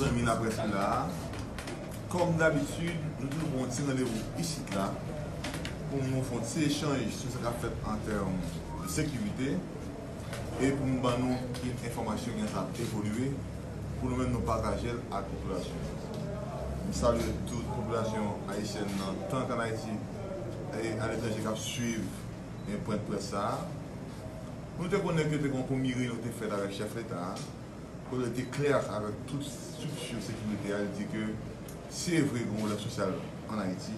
Zanmi nap rete la Kòm dabitid nou toujou pran yon ti randevou isit la pou nou fè yon ti echanj sou sa kap fèt an tèm de sekirite. e pou m ban nou ki enfòmasyon ki nan sa ap evolye pou nou menm nou pataje l ak popilasyon an. M salye tout popilasyon ayisyèn nan tank an Ayiti e aletranje k ap swiv pwent près sa a. Nou te konnen ke te gen yon premye reyinyon ki te fèt avèk chèf leta a kote li te klè avèk tout strikti sekirite a, li di ke se vre gen pwoblèm sosyal an Ayiti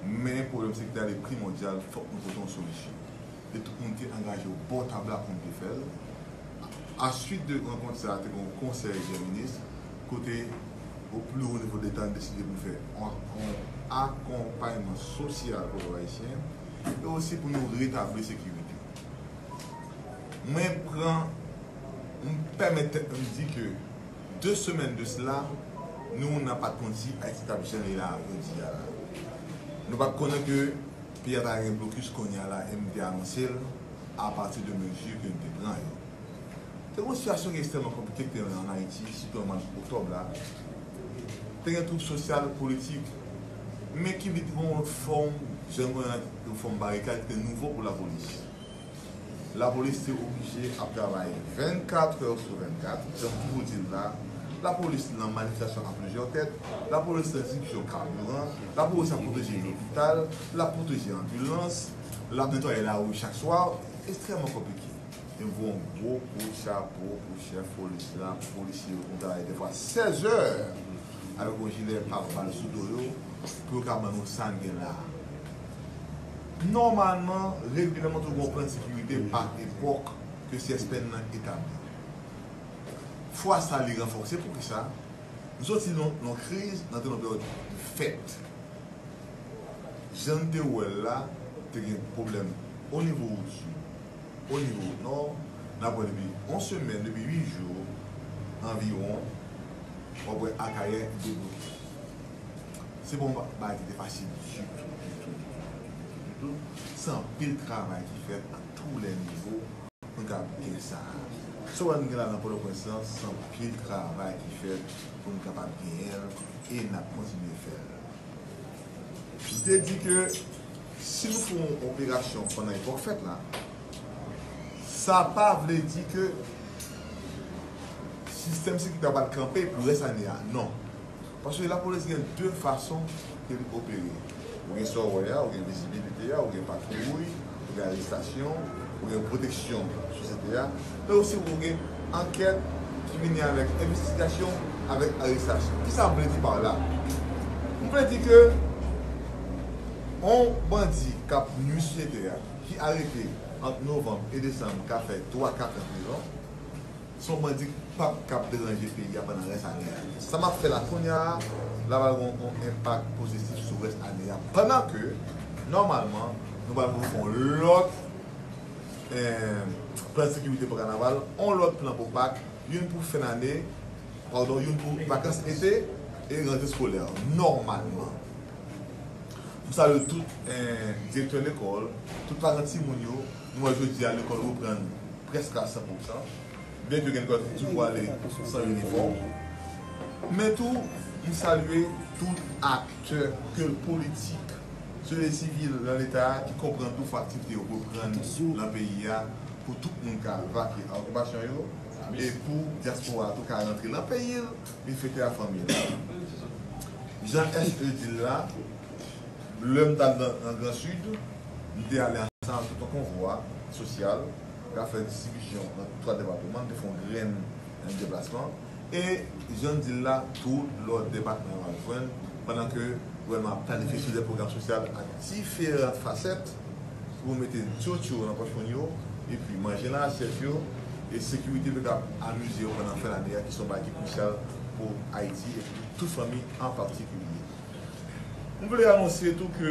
men pwoblèm sekirite a li primòdyal fòk nou pote yon solisyon. e tout moun te angaje w bò tab la pou n te fè l. Aswit de rankont sa a te gen yon konsèy dè minis kote o pli wo nivo deta n deside pou n fè yon akonpayman sosyal pou pèp ayisyen e osi pou nou retabli sekirite. Mwen pran, m pèmèt tèt mwen m di ke de semèn de sla nou nan pat konn si Ayiti t ap jan li la jodi a la. Nou pat konnen ke. Piya pa gen blokis kounya la e m te anonse l a pati de mezi ke m te pran yo. Te gen yon sitiyasyon ki ekstrèmman konplike ki te an Ayiti, sitou nan mwa oktòb la. Te gen twoub sosyal, politik, men ki vin pran yon lòt fòm, jan nou wè an, yon fòm barikad ki te nouvo pou lapolis. Lapolis te oblije ap travay 24 trè sou 24, jan m toujou di l la, lapolis nan manifestasyon a plizyè tèt, lapolis nan distribisyon kabiran, lapolis ap pwoteje lopital, l ap pwoteje anbilans, l ap netwaye lari chak swa, estrèman konplike. M voye yon gwo kout chapo pou chèf polis la, pou polisye yo ki konn travay dèfwa 16 zè avèk yon jilè pabal sou do yo, pou yo ka ban nou sa n gen la a. Nòmalman, regilyèman tou gen yon plan sekirite pa epòk ke CSPN nan etabli. Fwa sa li ranfòse, poukisa? Nou soti nan yon kriz, nou antre nan yon peryòd de fèt. Jan n te wè l la, te gen pwoblèm o nivo wout sou, o nivo wout nò, n ap wè depi yon semèn, depi 8 jou anviwon, w ap wè Akayè debloke. Se pa yon bagay ki te fasil ditou, ditou, ditou, ditou. Se anpil travay ki fèt a tou lè nivo pou nou kapab gen sa a. Sa w wè nou gen la nan Pòtoprens lan, se anpil travay ki fèt pou nou kapab genyen l e n ap kontinye fè l. M te di ke si nou fè yon operasyon pandan epòk fèt la, sa pa vle di ke sistèm sekirite a pral kanpe pou rès ane a, non. Paske lapolis gen 2 fason ke li opere. Ou gen sa w wè a, ou gen vizibilite a, ou gen patwouy, ou gen arestasyon, ou gen pwoteksyon sosyete a, men osi ou gen ankèt ki vini avèk envestigasyon, avèk arestasyon. Kisa m vle di pa w la? M vle di ke yon bandi k ap nwi sosyete a, ki arete ant novanm e desanm ka fè 3, 4 an prizon, Se yon bandi kpap kap deranje peyi a pandan rès ane a. Sa map fè la kounya a la pral gen yon enpak pozitif sou rès ane a pandan ke nòmalman nou pral gen yon lòt plan sekirite pou kanaval, yon lòt plan pou pak, youn pou fen ane, padon youn pou vakans ete e rante skolè nòmalman. M salye tout direktè lekòl, tout paran timoun yo. Nou wè jodi a lekòl reprann prèske a 100 pou san, byenke gen lekòl ki toujou ale san inifòm. Men tou, m salye tout aktè, ke l politik, sosyete sivil lan Leta a, ki konprann tou fò aktivite yo reprann lan peyi a pou tout moun ka vake a okipasyon yo e pou dyaspora a tou ka rantre lan peyi l vin fete a fanmi l. Jan SE di l la, Lè m t al nan Gran Sid, m te ale ansanm avèk tout yon konvwa sosyal k ap fè distribisyon nan twa depatman. M te fè yon grenn deplasman. E jan n di l la, tout lòt depatman yo ap jwenn pandan ke gouvènman an ap planifye sou dè pwogram sosyal ak diferan fasèt pou mete dot yo nan pòch moun yo, epi manje nan asyèt yo, e sekirite pou yo kab amize yo pandan fen lane a ki se yon bagay ki krisyal pou Ayiti epi pou tout fanmi an patikilye. M vle anonsye tou ke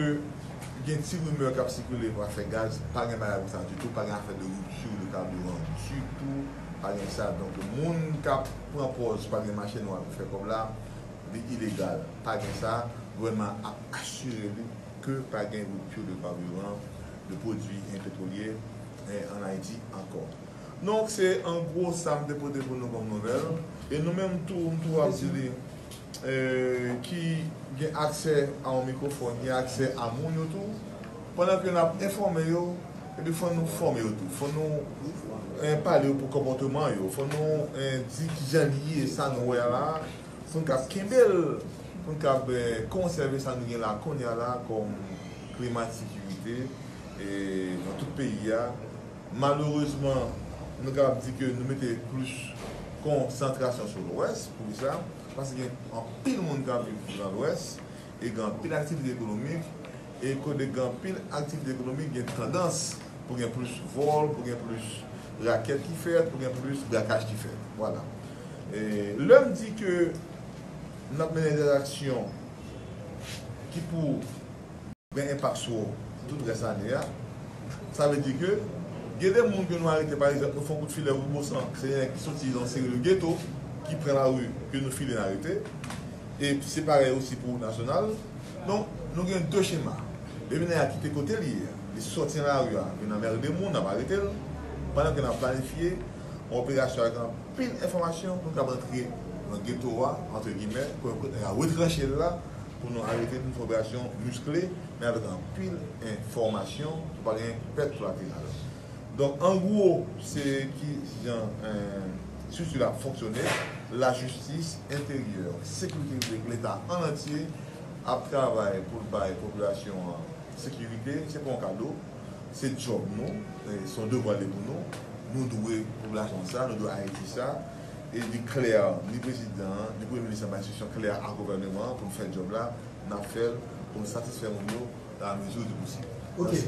gen ti rimè kap sikile pou afè gaz, pa gen bagay konsa ditou, pa gen afè de rupture de carburant ditou, pa gen sa, donk moun kap pran pòz pa gen mache nwa pou fè kòb la, li ilegal, pa gen sa, gouvènman an ap asire li ke pa gen rupture de carburant, de pwodui petrolye an Ayiti ankò. Donk se an gwo sa m te pote pou nou kòm nouvèl, e nou menm tou m tou ap di li. ki gen aksè a yon mikwofòn gen aksè a moun yo tou, pandan ke n ap enfòme yo, epi fò nou fòme yo tou, fò nou pale yo pou konpòteman yo, fò nou di ki jan li ye, sa nou wè a la a, pou n kab kenbe l, pou n kab konsève sa nou gen la a kounye a la a kòm klima ensekirite nan tout peyi a. Malerezman, nou kapab di ke nou mete plis konsantrasyon sou Lwès. Poukisa? Paske gen anpil moun k ap viv nan Lwès e gen anpil aktivite ekonomik. E kote gen anpil aktivite ekonomik, gen tandans pou gen plis vòl, pou gen plis rakèt ki fèt, pou gen plis brakaj ki fèt. Vwala. E lè m di ke n ap mennen entèraksyon ki pou. Gen enpak sou ou pou tout rès ane a. Sa vle di ke gen de moun ke nou arete pa egzanp nou fè yon kout filè pou Bosan se nèg ki soti nan seri de geto ki pran lari ke nou file n arete e se parèy osi pou nasyonal. Donk nou gen de chema. Depi nèg a kite kote li ye a, li soti nan lari a, vin anmerde moun, n ap arete l pandan ke n ap planifye yon operasyon ak anpil enfòmasyon pou n kab antre nan geto a, antre gimè, pou n kote nèg a retranche l la. Pou nou arete nou fè operasyon miskle men avèk anpil enfòmasyon pou pa gen pèt kolateral. Donk an gwo se ki jan estrikti la ap fonksyone, lajistis, enteryè, sekirite piblik, leta ann antye ap travay pou l bay popilasyon an sekirite, se pa yon kado, se djòb nou, se yon devwa li pou nou, nou dwe popilasyon an sa, nou dwe Ayiti sa. e li klè ni prezidan an, ni premye minis anba enstriksyon klè a gouvèneman an pou n fè djòb la, n ap fè l pou n satisfè moun yo dan la mezi di posib. Mèsi.